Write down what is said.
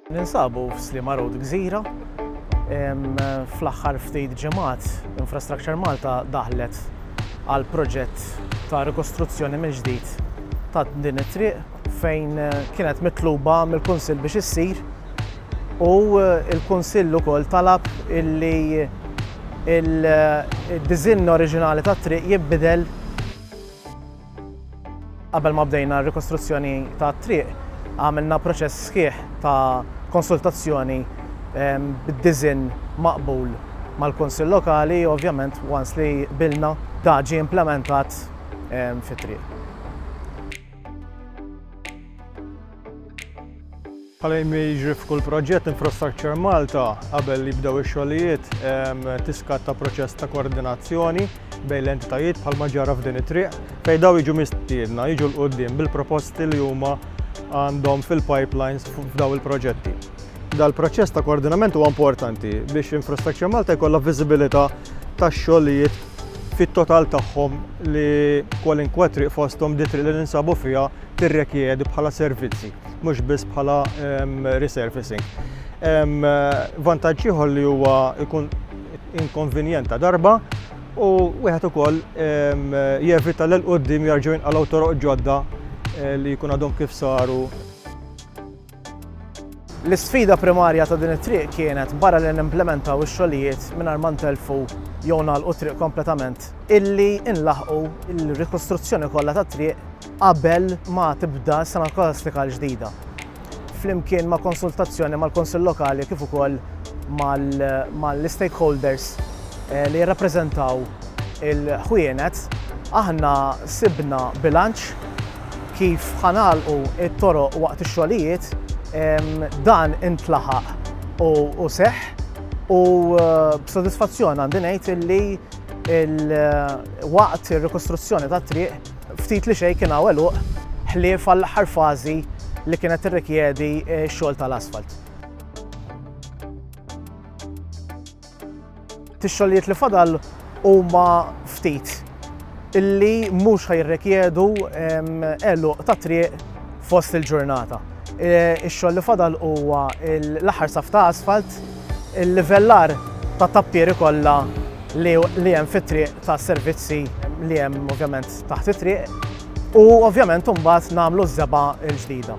Ninsabu f'Slima Road Gżira. Fl-aħħar ftit ġimgħat Infrastructure Malta daħlet għal proġett ta' rikostruzzjoni mill-ġdid ta' din it-triq fejn kienet mitluba mill-Kunsill biex issir u l-Kunsill ukoll talab illi il-diżinn oriġinali tat-triq jinbidel Qabel ma bdejna r-rikostruzzjoni tat-triq, għamilna proċess sħiħ ta' konsultazzjoni ehm, bid-diżinn maqbul mal-Kunsill Lokali, ovvjament once li bilna da ġie implementat ehm, fit-triq. Bħalma jiġri f'kull proġett Infrastructure Malta qabel li jibdew ix-xogħlijiet tiskatta proċess ta' koordinazzjoni bejn l-entitajiet bħalma ġara f'din it-triq fejn daw jiġu mistiedna jiġu l-qudiem bil-proposti li huma għandhom fil-pipelines f'daw il-proġetti. Dal-proċess ta' koordinament huwa importanti biex Infrastructure Malta jkollha viżibilità tax-xogħlijiet fit-total tagħhom li kwalunkwe triq fosthom di triq li ninsabu fiha tirrekjedi bħala servizzi, mhux biss bħala resurfacing. Vantaġġ ieħor li huwa jkun inkonvenjent ta' darba u wieħed ukoll jevita l-qoddim jarġgħu jinqalgħu toroq ġodda eh, li jkun għadhom kif saru L-isfida primarja ta' din it-triq kienet barra li nimplementaw ix-xogħlijiet mingħajr ma ntelfu jew nagħlqu t-triq kompletament, illi nlaħqu l-rikostruzzjoni kollha tat-triq qabel ma tibda s-sena skolastika l-ġdida, flimkien ma' konsultazzjoni mal-Kunsill Lokali kif ukoll mal-istakeholders eh, li jirrappreżentaw il-ħwienet, aħna sibna bilanċ Kif ħa ngħalqu t-toroq waqt ix-xogħlijiet, dan intlaħaq u seħħ u b'sodisfazzjon għandi ngħid illi waqt ir-rikostruzzjoni tat-triq ftit li xejn kien hawn għeluq ħlief għall-aħħar fażi li kienet tirrikjedi x-xogħol tal-asfalt. Tix-xogħlijiet li fadal huma ftit illi mhux ħajrekjedu eluq ta' triq fost il-ġurnata. E, ix-xogħol li fadal huwa l-aħħar saf ta' asfalt, il-livellar ta' tappieri kollha li hemm fit-triq ta' servizzi li hemm ovvjament taħt it-triq u ovvjament imbagħad nagħmlu ż-żeba l-ġdida.